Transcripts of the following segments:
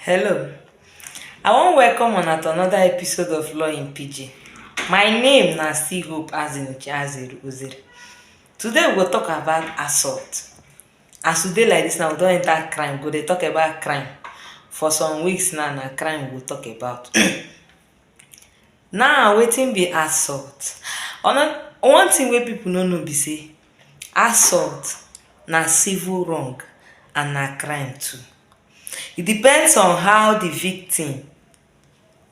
Hello, I wan welcome una to another episode of Law in Pidgin. My name na still Hope Azinuche Azere Ozere. Today we go talk about assault. As we dey like this now, we don enter crime, we go dey talk about crime. For some weeks now, na crime we go talk about. now, wetin be assault? Ono- One thing wey people no know be say assault na civil wrong and na crime too. e depends on how di victim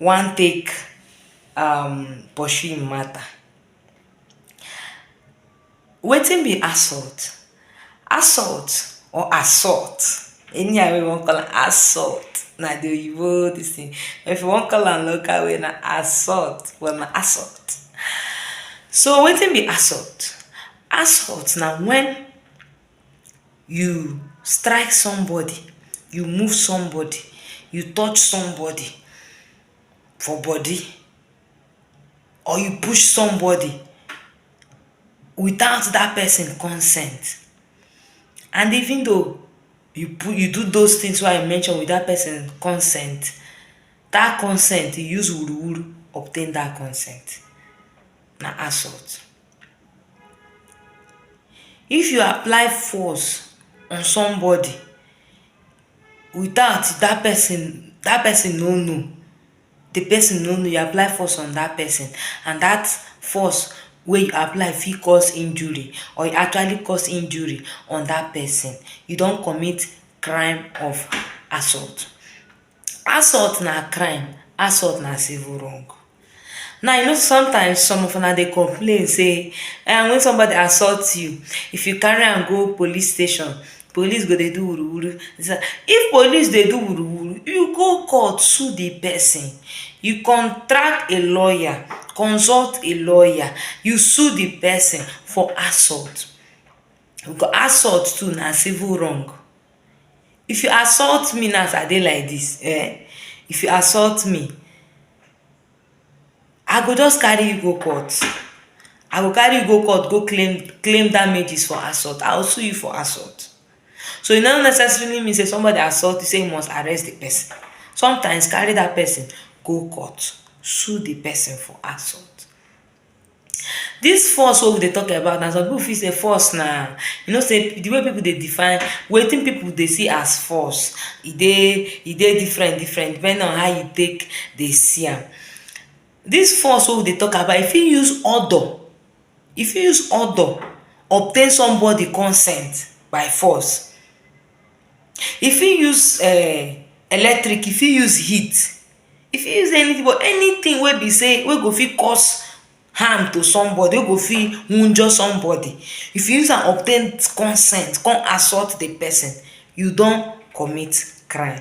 wan take um pursue im matter wetin be assault? assault or assault any how wey you wan call am assault na di oyibo dis thing but if you wan call am local way na assault well na assault so wetin be assault? assault na when you strike somebody you move somebody you touch somebody for body or you push somebody without that person consent and even though you put you do those things wey I mention with that person consent that consent you use wuru wuru obtain that consent na assault. If you apply force on somebody without that person that person no know the person no know you apply force on that person and that force wey you apply fit cause injury or you actually cause injury on that person you don commit crime of assault Assault na crime, assault na civil wrong. Now you know sey sometimes some of una dey complain sey um wen somebody assault you, if you carry am go police station, police go dey do wuru wuru. If police dey do wuru wuru, you go court sue the person, you contract a lawyer, consult a lawyer, you sue the person for assault. Assault too na civil wrong. If you assault me now as I dey like dis um, if you assault me, I go just carry you go court. I go carry you go court go claim claim damages for assault. I will sue you for assault. So, e no necessarily mean sey somebody assault you sey you must arrest the person. Sometimes, carry dat person go court, sue the person for assault. Dis force wey we dey talk about na some people fit say force na you know sey di way people dey define wetin people dey see as force e dey e dey different different depending on how you take dey see am. Dis force wey we dey talk about you fit use odour you fit use odour obtain somebody consent by force. You fit use um electric you fit use heat. E fit use anything but anything wey be sey wey go fit cause harm to somebody wey go fit wunjure somebody if you use am obtain consent come assault the person you don commit crime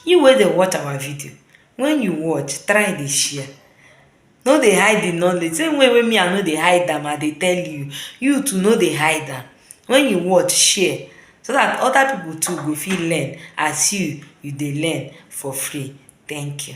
you wey dey watch our video when you watch try dey share No dey hide the knowledge same way wey me I no dey hide am I dey tell you, you too no dey hide am when you watch share so that other people too go fit learn as you you dey learn for free thank you.